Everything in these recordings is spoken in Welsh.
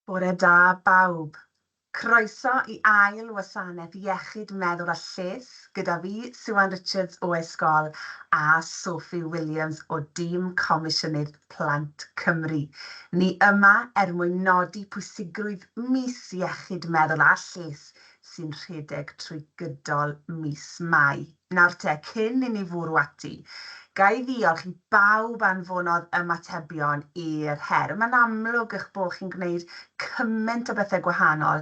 Bore da bawb. Croeso i ail wasanaeth iechyd meddwl a lles gyda fi, Siwan Richards o Escol a Sophie Williams o dîm Comisiynydd Plant Cymru. Ni yma er mwyn nodi pwysigrwydd mis iechyd meddwl a lles sy'n rhedeg trwy gydol mis Mai. Nawr te, cyn i ni fwrw ati, ga i ddiolch i bawb anfonodd ymatebion i'r her. Mae'n amlwg eich bod chi'n gwneud cymaint o bethau gwahanol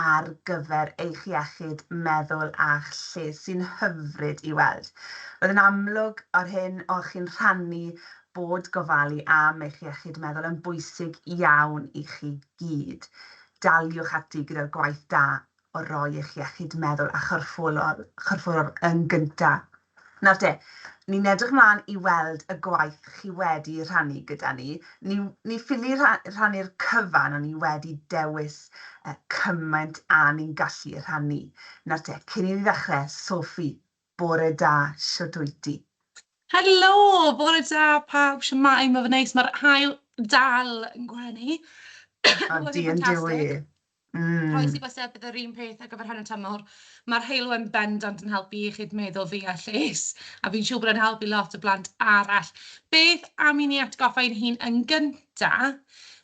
ar gyfer eich iechyd meddwl a'ch lles, sy'n hyfryd i weld. Roedd yn amlwg o'r hyn o'ch chi'n rhannu bod gofalu am eich iechyd meddwl yn bwysig iawn i chi gyd. Daliwch ati gyda'r gwaith da o roi eich iechyd meddwl a chyrffolol, chyrfforol yn gynta. Nawr te, ni'n edrych mlan i weld y gwaith chi wedi rhannu gyda ni. Ni, ni ffili rha- rhannu'r cyfan, ond ni wedi dewis uh, cymaint a ni'n gallu rhannu. Nawr te, cyn i ni ddechrau, Sophie, bore da, shwt wyt ti? Helo! Bore da pawb, siwmae, mae fy neis, mae'r haul dal yn gwenu. O, di yn dyw i. Mm. Croes i bysau, bydd yr un peth ar gyfer hanner tymor. Mae'r heulwen bendant yn helpu i chi'n meddwl fi a lles, a fi'n siŵr bod yn helpu lot o blant arall. Beth am i ni atgoffa ein hun yn gynta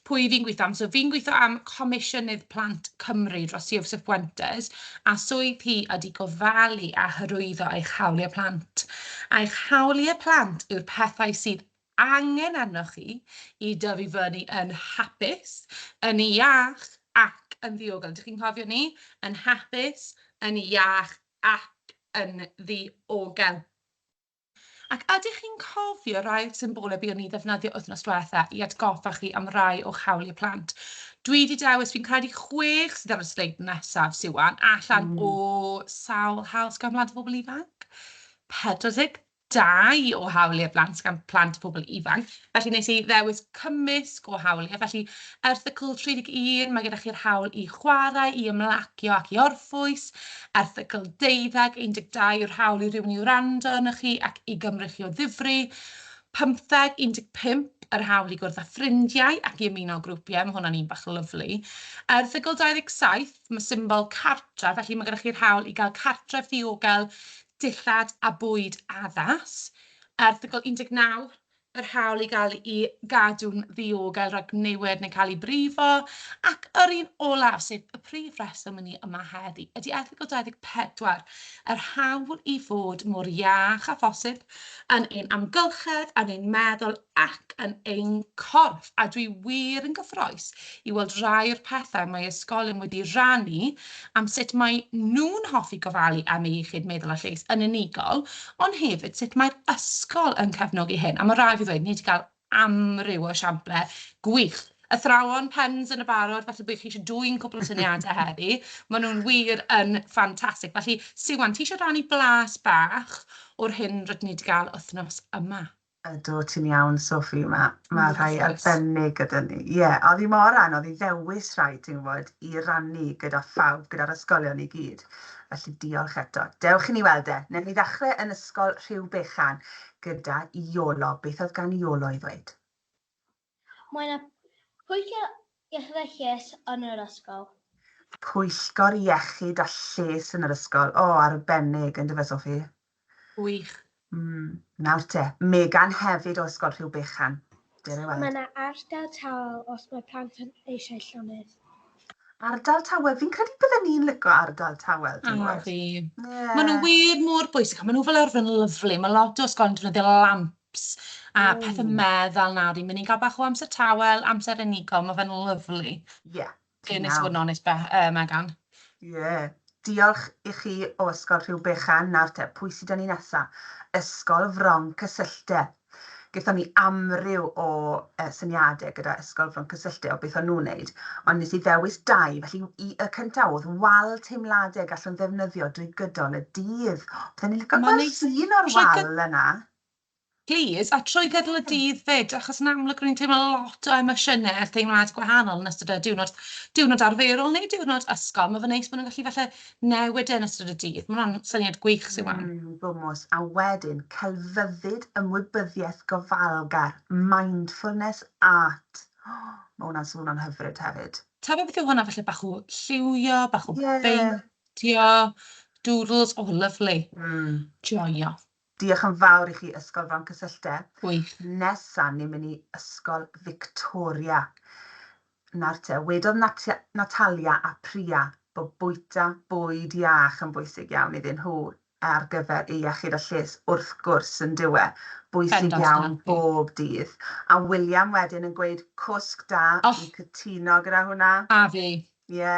pwy fi'n gweithio am? So fi'n gweithio am Comisiynydd Plant Cymru dros Joseph Fuentes, a swydd hi ydy gofalu a hyrwyddo eich hawliau plant. Eich hawliau plant yw'r pethau sydd angen arnoch chi i dyfu fyny yn hapus, yn iach ac yn ddiogel. Ydych chi'n cofio 'ny? Yn hapus, yn iach ac yn ddiogel. Ac ydych chi'n cofio rai o'r symbolau buon ni'n ddefnyddio wythnos diwetha' i atgoffa chi am rai o'ch hawliau plant? Dwi 'di dewis, fi'n credu, chwech sydd ar y sleid nesaf, Siwan, allan o sawl hawl sgan Mhlant a Phobl Ifanc? 40 dau o hawliau blant gan Plant a Phobl Ifanc, felly wnes i ddewis cymysg o hawliau. Felly, erthygl 31, mae gyda chi'r hawl i chwarae, i ymlacio ac i orffwys. Erthygl 12, 12 yw'r hawl i rywun i wrando arnoch chi ac i gymryd chi o ddifri. 15, 15 yr hawl i gwrdd â ffrindiau ac i ymuno â grwpiau, mae hwnna'n un bach lyfli. Erthygl 27, mae symbol cartref, felly mae gyda chi'r hawl i gael cartref ddiogel dillad a bwyd addas. Erthygl 19, yr hawl i gael i gadw'n ddiogel rhag niwed neu cael ei brifo, ac yr un olaf, sef y prif reswm i ni yma heddi, ydy erthygl 24, yr hawl i fod mor iach â phosib yn ein amgylchedd, yn ein meddwl ac yn ein corff, a dwi wir yn gyffrous i weld rai o'r pethau mae ysgolion wedi rannu am sut mae nhw'n hoffi gofalu am eu iechyd meddwl a lles yn unigol, ond hefyd sut mae'r ysgol yn cefnogi hyn, a mae rhaid fi ddweud, ni wedi cael amryw o esiamplau gwych. Athrawon, pens yn y barod, falle bod chi eisiau dwyn cwpl o syniadau heddi, maen nhw'n wir yn ffantastig. Felly, Siwan, ti eisiau rannu blas bach o'r hyn rydyn ni wedi cael wythnos yma? Ydw, ti'n iawn Sophie, ma' ma' rhai arbennig gyda ni. Ie, oedd hi mor anodd i ddewis rhai, ti'n gwybod, i rannu gyda phawb, gyda'r ysgolion i gyd. Felly diolch eto. Dewch i ni weld e. Newn ni ddechrau yn ysgol Rhyw Bechan gyda Iolo. Beth oedd gan Iolo i ddweud? Mae yna Pwyllgor Iechyd a Lles yn yr ysgol. Pwyllgor Iechyd a Lles yn yr ysgol. O, arbennig, yndyfe Sophie? Gwych. Mm, nawr te, Megan hefyd o Ysgol Rhiw Bechan. Dere weld. Mae yna ardal tawel os mae plant yn eisiau llonydd. Ardal tawel, fi'n credu bydden ni'n lico ardal tawel, ti'n gwybod? A fi. Ie. Maen nhw wir mor bwysig, a maen nhw fel arfer yn lyfli. Mae lot o ysgolion yn defnyddio lamp apps a pethe medd fel 'na fi'n mynd i ga'l bach o amser tawel, amser unigol, ma' fe'n lyfli. Ie. Dwi'n neis i fod yn onest be- yy Megan. Ie. Diolch i chi o Ysgol Rhyw Bechan, nawr te, pwy sy 'da ni nesa? Ysgol Fron Cysylltau. Gethon ni amryw o yy syniade gyda Ysgol Fron Cysylltau o beth o'n nhw'n neud, ond nes i ddewis dau, felly i y cynta o'dd wal teimlade gallwn ddefnyddio drwy gydol y dydd. Bydden i'n lico gweld llun o'r wal yna. Plîs, a trwy gydol y dydd 'fyd, achos yn amlwg rwy'n teimlo lot o emosiynau a theimlad gwahanol yn ystod y diwrnod, diwrnod arferol neu diwrnod ysgol, mae fe'n neis bod nhw'n gallu falle newid e yn ystod y dydd, mae hwnna'n syniad gwych sydd 'ma. Mm, gwmws, a wedyn celfyddyd ymwybyddiaeth gofalgar, mindfulness art, o, mae hwnna'n swnio'n hyfryd hefyd. Ta beth yw hwnna, falle bach o lliwio, bach o beintio, doodles, o, lyfli. Mm. Joio. Diolch yn fawr i chi Ysgol Froncysylltau. Gwych. Nesa ni'n mynd i Ysgol Victoria. Nawr te, wedodd Natia, Natalia a Priya bo bwyta bwyd iach yn bwysig iawn iddyn nhw ar gyfer eu iechyd a lles wrth gwrs yndyw e? Bwysig Bendant, iawn Natalie. bob dydd. A William wedyn yn gweud cwsg da, O! fi'n cytuno gyda hwnna. A fi. Ie,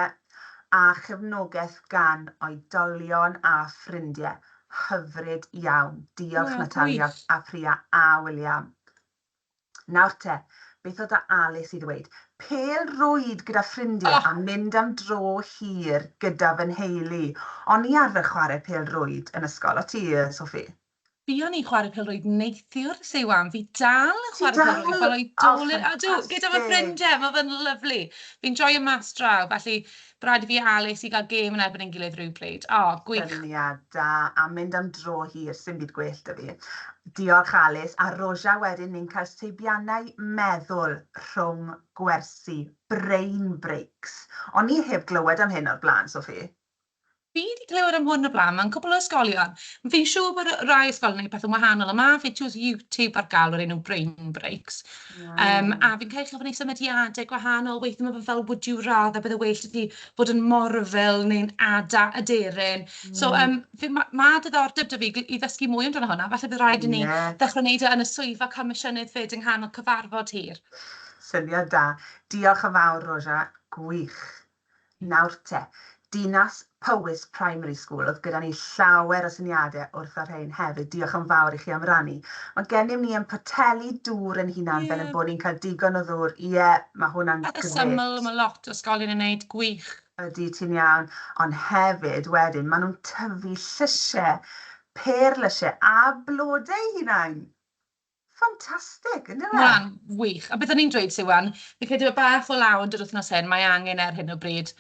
a chefnogaeth gan oedolion a ffrindie, hyfryd iawn. Diolch Natalia a Priya a William. Nawr te, beth oedd 'da Alis i ddweud? Pêl rwyd gyda ffrindie a mynd am dro hir gyda fy nheulu. O'n i arfer chware pêl rwyd yn ysgol, o't ti, Sophie? Buon ni'n chwarae pêl-rwyd neithiwr, say wham, fi dal yn chwarae pêl-rwyd fel oedolyn, a dw, gyda fy ffrindiau, mae fe'n lyfli. Fi'n joio mas draw, felly bydd rhaid i fi a Alys i gael gêm yn erbyn ein gilydd rhywbryd. O, gwych. Syniad da, a mynd am dro hir, sdim byd gwell 'da fi. Diolch Alys, a Roja wedyn ni'n cael seibiannau meddwl rhwng gwersi, brain breaks. O'n i heb glywed am hyn o'r blaen, Sophie. Fi 'di clywed am hwn o blaen, mewn cwpl o ysgolion. Fi'n siŵr bod rai ysgolion yn gwneud pethau'n wahanol, ond mae fideos YouTube ar gael o'r enw Brain Breaks. Um, a fi'n cael chi'n gwneud symudiadau gwahanol, weithio mae fe fel would you rather, bydde well i ti bod yn morfil neu'n ada aderyn. Mm. So um, fi, mae ma diddordeb dy fi i ddysgu mwy amdano hwnna, falle bydd rhaid i ni yeah. ddechrau wneud e yn y swyddfa comisiynydd fyd yng nghanol cyfarfod hir. Syniad da. Diolch yn fawr, Roja. Gwych. Nawr te, Dinas Powys Primary School, oedd gyda ni llawer o syniadau wrth y rhein hefyd, diolch yn fawr i chi am rannu. Mae gennym ni yn poteli dŵr ein hunain fel ein bod ni'n cael digon o ddŵr, ie, mae hwnna'n grêt. Pethau syml, mae lot o ysgolion yn neud, gwych. Ydy, ti'n iawn, ond hefyd wedyn maen nhw'n tyfu llysiau, pêr lysiau a blodau eu hunain! Ffantastig, yn dyfe? Mae'n wych. A beth o'n i'n dweud, Siwan, fi'n credu bod bach o law yn dod wythnos hyn, mae angen e ar hyn o bryd.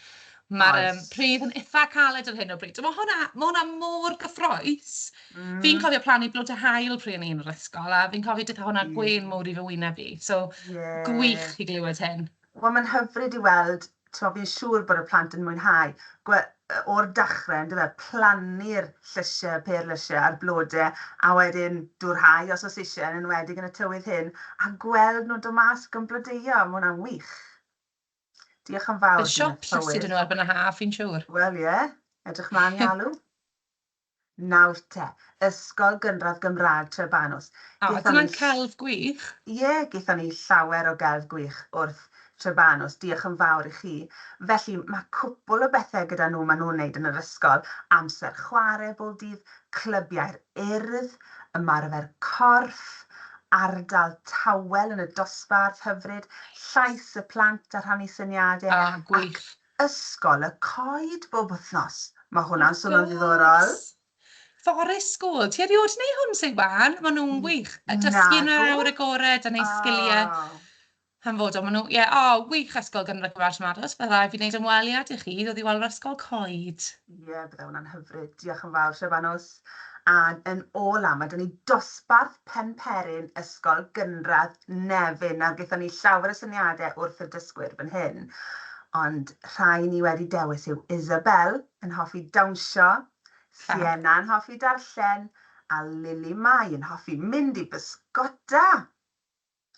Mae'r um, pridd yn eitha caled ar hyn o bryd. Mae hwnna, mae hwnna mor gyffroes. Mm. Fi'n cofio plannu blod a hael pryd o'n i'n yr ysgol, a fi'n cofio dytha hwnna mm. gwein mowr i fy wyneb i. So, yeah. gwych i glywed hyn. Wel mae'n hyfryd i weld, timod, fi'n siŵr bod y plant yn mwynhau, gwe- o'r dechrau, yn dyw e, plannu'r llysiau, y pêr lysiau a'r blodau, a wedyn dŵr hau os oes isie, yn enwedig yn y tywydd hyn, a gweld nhw'n dod mas ac yn blodeuo, mae hwnna'n wych. Diolch yn fawr, Dinas Powys. Bydd siop llysiau 'da nhw erbyn y haf, fi'n siŵr. Wel, ie. Edrych mlaen i alw. Nawr te, Ysgol Gynradd Gymraeg Trebanws. O, dyna'n celf gwych. Ie, gaethon ni llawer o gelf gwych wrth Trebanws, diolch yn fawr i chi. Felly, mae cwpwl o bethe gyda nhw maen nhw'n wneud yn yr ysgol, amser chwarae bob dydd, clybiau'r Urdd, ymarfer corff, ardal tawel yn y dosbarth, hyfryd, llais y plant a rhannu syniadau, ac Ysgol y coed bob wythnos. Mae hwnna'n swnio'n ddiddorol. Wrth gwrs! Forest School. Ti erioed neu hwn Siwan? Maen nhw'n wych. A dysgu yn yr awyr agored a neu sgiliau hanfodol. Maen nhw, ie, o, wych Ysgol Gynradd Cymraeg Llanfados. Byddai fi wneud ymweliad i chi i ddod i weld yr ysgol coed. Ie, bydde hwnna'n hyfryd. Diolch yn fawr, Siafanws. Ac yn ôl am, a dyna ni, dosbarth Penperin, Ysgol Gynradd Nefyn. Nawr, gaethon ni llawer o syniadau wrth y dysgwyr fan hyn, ond rhai ni wedi dewis yw Isabel, yn hoffi dawnsio, Sienna yn hoffi darllen, a Lili Mai yn hoffi mynd i bysgota!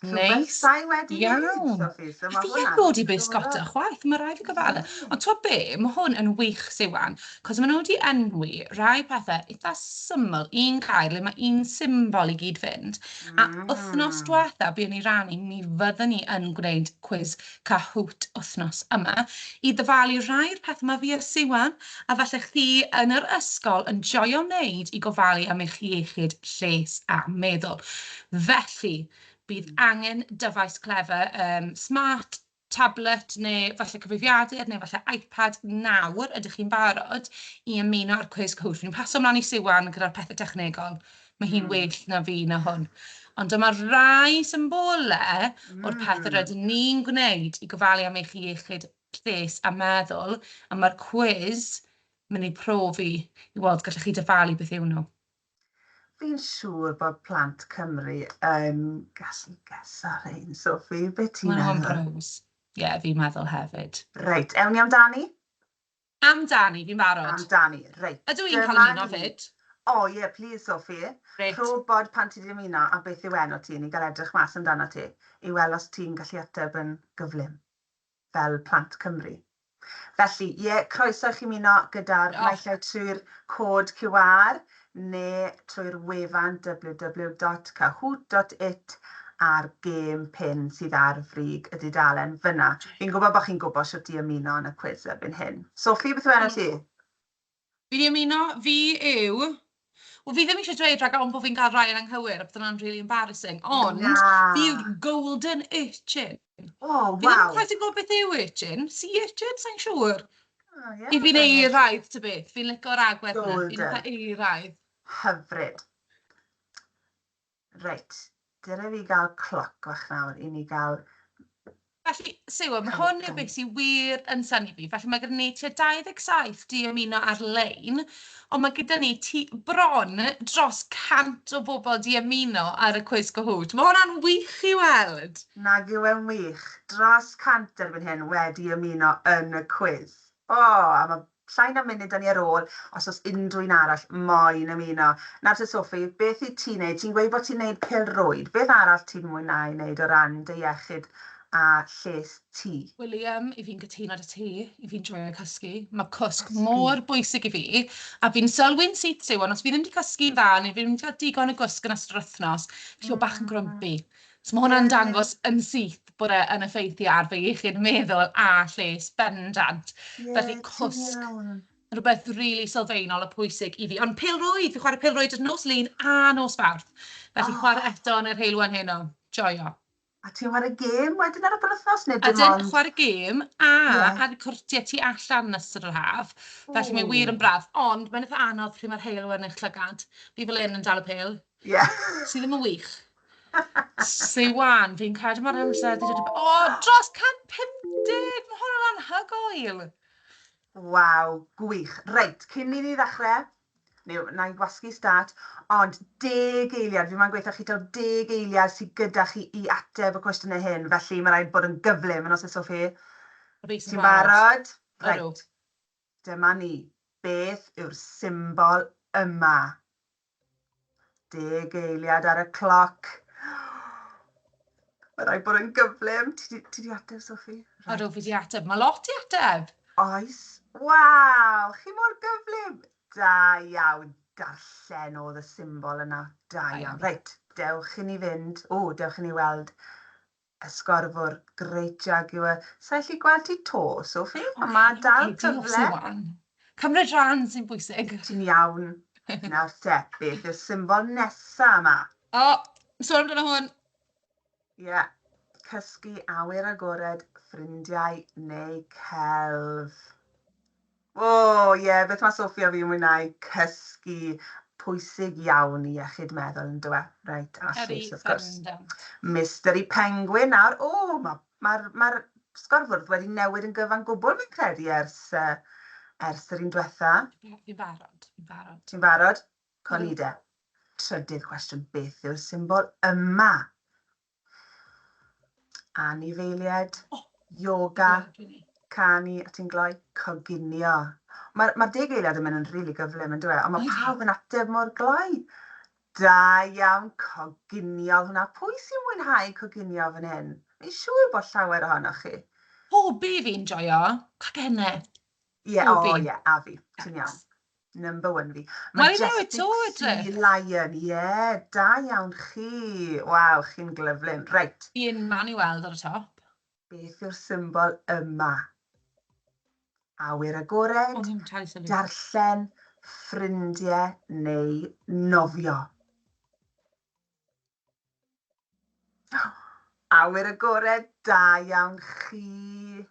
Neis, sai wedi iawn. A fi heb bod i bysgota chwaith, mae rai fi gofalu. Ond to be, mae hwn yn wych Siwan, cos maen nhw wedi enwi rai pethau eitha syml, un gair le mae un symbol i gyd-fynd. A wythnos diwetha, buon ni rannu, mi fyddwn ni yn gwneud cwis Kahoot wthnos yma i ddyfalu rhai o'r pethau mae fi a Siwan, a falle chdi, yn yr ysgol yn joio wneud i gofalu am eich iechyd lles a meddwl. Felly, bydd angen dyfais clefer, um, smart, tablet neu falle cyfrifiadur neu falle iPad nawr, ydych chi'n barod i ymuno â'r cwis Kahoot? Fi'n paso ymlaen i Siwan gyda'r pethau technegol. Mae hi'n mm. well na fi na hwn. Ond dyma rai symbolau mm. o'r pethau hmm. rydyn ni'n gwneud i gofalu am eich iechyd lles a meddwl, a mae'r cwiz mynd i profi i weld gallwch chi dyfalu beth yw nhw. Fi'n siŵr bod plant Cymru yn gallu gesa rhain, Sophie. Be ti'n meddwl? Mae'n Ie, yeah, fi'n meddwl hefyd. Reit, ewn ni amdani? Am dani, fi'n barod. Am dani, reit. Ydw i'n cael ymuno 'fyd? O ie, plîs Sophie. Grêt. Rho wbod pan ti 'di ymuno a beth yw enw ti, ni'n gael edrych mas amdanat ti i weld os ti'n gallu ateb yn gyflym fel plant Cymru. Felly, ie, croeso i chi ymuno gyda'r naill ai trwy'r cod QR neu trwy'r wefan www dot kahoot dot it a'r gêm pin sydd ar frig y dudalen fyna. Fi'n gwybod bod chi'n gwybod shwt i ymuno yn y cwis erbyn hyn. Sophie, beth yw enw ti? Fi 'di ymuno, fi yw... Wel fi ddim eisiau dweud rhagor ond bod fi'n cael rhai yn anghywir a bydd hwnna'n rili embarrassing ond... Na! ...fi yw'r golden urchin! O, waw. Fi ddim yn quite yn gwybod beth yw urchin. Si urchin? Sa'n siŵr. Oh, yeah, I fi'n eiraidd, ty beth. Fi'n licor agwedd yna. Fi'n eitha eiraidd. Hyfryd. Reit. Dyna fi gael cloc fach nawr i ni gael... Felly, Siwa, mae hwn yn beth sy'n wir yn syni fi. Felly mae gen i tua 27 di ymuno ar-lein. Ond mae gyda ni tu bron dros 100 o bobl 'di ymuno ar y Cwis Cahoot. Mae hwnna'n wych i weld! Nag yw e'n wych? Dros 100 erbyn hyn wedi ymuno yn y cwis. O! A mae llai na munud 'da ni ar ôl os oes unrhyw un arall moyn ymuno. Nawr te Sophie, beth wyt ti'n neud? Ti'n gweud bod ti'n neud pêl-rwyd. Beth arall ti'n mwynhau neud o ran dy iechyd a lles ti? William, I fi'n cytuno 'da ti, i fi'n joio cysgu. Mae cwsg mor bwysig i fi, a fi'n sylwi'n syth yw, ond os fi ddim wedi cysgu'n dda, neu fi ddim wedi cael digon o gwsg yn ystod yr wythnos, fi o bach yn grwmpi. So mae hwnna'n dangos yn syth bod e yn effeithio ar fy iechyd meddwl a lles bendant. Felly cwsg, rhywbeth rili really sylfaenol a pwysig i fi. Ond pêl-rwyd, fi chwarae pêl-rwyd nos lun a nos fawrth. Felly chwarae eto yn yr heilwen heno. Joio. A ti'n chwarae gêm wedyn ar y penwythnos neu dim ond... Ydyn, chwarae gêm a ar cwrtiau tu allan yn ystod yr haf. Felly mae wir yn braf, ond mae'n eitha anodd pryd mae'r haul yn eich llygad. Fi fel hyn yn dal y pêl. Ie. Sy ddim yn wych. Sy wan, fi'n credu mae'r amser 'di dod i b-. O! Dros 150! Mae hwn yn anhygoel! Waw, gwych. Reit, cyn i ni ddechrau, Neu wna i wasgu stat, ond deg eiliad, fi moyn gweithio chi taw deg eiliad sy gyda chi i ateb y cwestiynau hyn, felly mae'n rhaid bod yn gyflym, yn os oes o chi. Reit, ti'n barod? Ti'n barod? Ydw. Reit, dyma ni. Beth yw'r symbol yma? Deg eiliad ar y cloc. Mae'n rhaid bod yn gyflym. Ti di, ti di ateb, Sophie? Right. Odw, fi di ateb. Mae lot i ateb. Oes. Waw, chi mor gyflym. Da iawn. Darllen oedd y symbol yna. Da iawn. Reit, dewch i ni fynd. O, dewch i ni weld Esgorbwr, Great Jaguar, sa i allu gweld ti to, Sophie, ond ma' dal cyfle. Cymryd rhan sy'n bwysig. Ti'n iawn. Nawr te, beth yw'r symbol nesa yma? O, sôn amdano hwn. Ie, cysgu, awyr agored, ffrindiau neu celf. O ie, beth mae Sophie a fi yn mwynhau? Cysgu. Pwysig iawn i iechyd meddwl yn dyw e? Reit, a lles wrth gwrs. Mystery Penguin nawr. O, ma' ma'r ma'r sgorfwrdd wedi newid yn gyfan gwbl fi'n credu ers ers yr un dwetha. Fi'n barod, fi'n barod. Ti'n barod? Co ni de. Trydydd cwestiwn, beth yw'r symbol yma? anifeiliaid, yoga, canu a ti'n gloi, coginio. Mae'r ma deg eiliad yn mynd yn rili really gyflym yn dweud, ond mae pawb yn ateb mor gloi. Da iawn, coginio hwnna. Pwy sy'n mwynhau coginio fan hyn? Mi'n siŵr bod llawer ohonoch chi. Hobi fi'n joio cacenne. Ie, o Pob un. ie, a fi, ti'n iawn. Number one fi. Wel, I know, it's all Majestic right. Sea Lion, ie, da iawn chi. Waw, chi'n glyflyn. Reit, Fi yn man i weld ar y top. beth yw'r symbol yma? Awyr agored, O'n i'n talu sylwi. darllen, ffrindiau neu nofio? Awyr agored, da iawn chi.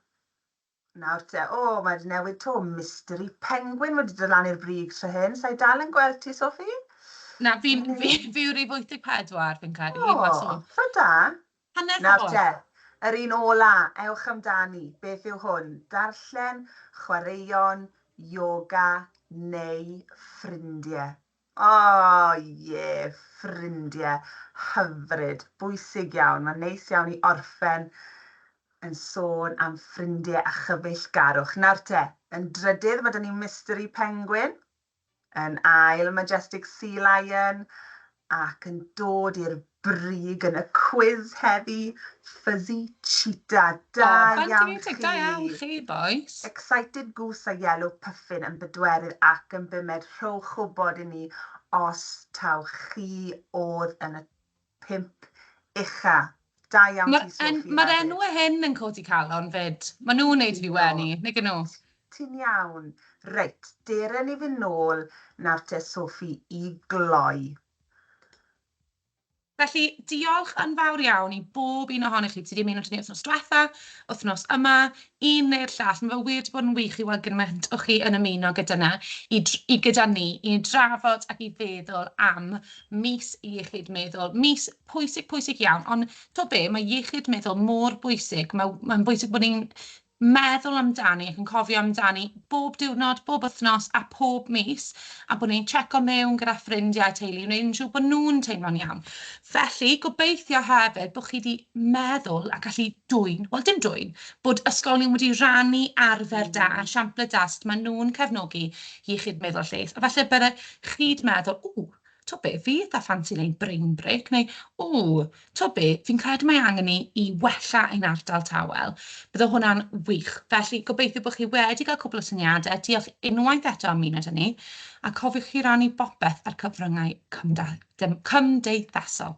Nawr te, o, mae 'di newid to, mystery penguin wedi dod lan i'r brig tro hyn, sa'i dal yn gweld ti, Sophie? Na, fi'n, fi, fi yw'r rif 84, fi'n credu, O, ma' sôn. rho da. Hanner Nawr ffordd. te, yr un ola, ewch amdani, beth yw hwn? Darllen, chwaraeon, yoga neu ffrindie? O ie, ffrindie. Hyfryd. Bwysig iawn. Mae'n neis iawn i orffen yn sôn am ffrindie a chyfeillgarwch. Nawr te, yn drydydd ma' 'da ni Mystery Penguin, yn ail Majestic Sea Lion, ac yn dod i'r brig yn y cwis heddi, Fuzzy Cheetah, da iawn chi! O, ffantiasig, da iawn chi, bois! Excited Goose a Yellow Puffin yn bedwerydd ac yn bumed, rhowch wybod i ni os taw chi oedd yn y pump ucha'. Da iawn ti, Sophie hefyd. Mae'r enwau hyn yn codi calon 'fyd. Maen nhw'n wneud i fi wenu, nag 'yn nhw? Ti'n iawn. Reit, dere ni fynd nôl nawr te, Sophie, i gloi. Felly, diolch yn fawr iawn i bob un ohonych chi. Ti wedi ymuno â ni wythnos diwetha, wythnos yma, un neu'r llall. Mae fe wir wedi bod yn wych i weld gymaint o chi yn ymuno gyda na, i, i gyda ni, i drafod ac i feddwl am mis iechyd meddwl. Mis pwysig, pwysig iawn. Ond to be, mae iechyd meddwl mor bwysig. Mae'n mae bwysig bod ni'n meddwl amdani ac yn cofio amdani bob diwrnod, bob wythnos a pob mis, a bod ni'n tseco mewn gyda ffrindiau a teulu i wneud yn siŵr bod nhw'n teimlo'n iawn. Felly, gobeithio hefyd bod chi wedi meddwl a gallu dwyn, wel dim dwyn, bod ysgolion wedi rhannu arfer da a siamplau da sut maen nhw'n cefnogi iechyd meddwl a lles, a falle bydde chi'n meddwl, ww, T'o' be', fi itha ffansi neud brain break neu o, t'o' be', fi'n credu mae angen i i wella ein ardal tawel. Bydde hwnna'n wych. Felly gobeithio bo' chi wedi ga'l cwpwl o syniade, diolch unwaith eto am ymuno 'da ni, a cofiwch i rannu bopeth ar cyfryngau cymda- cymdeithasol.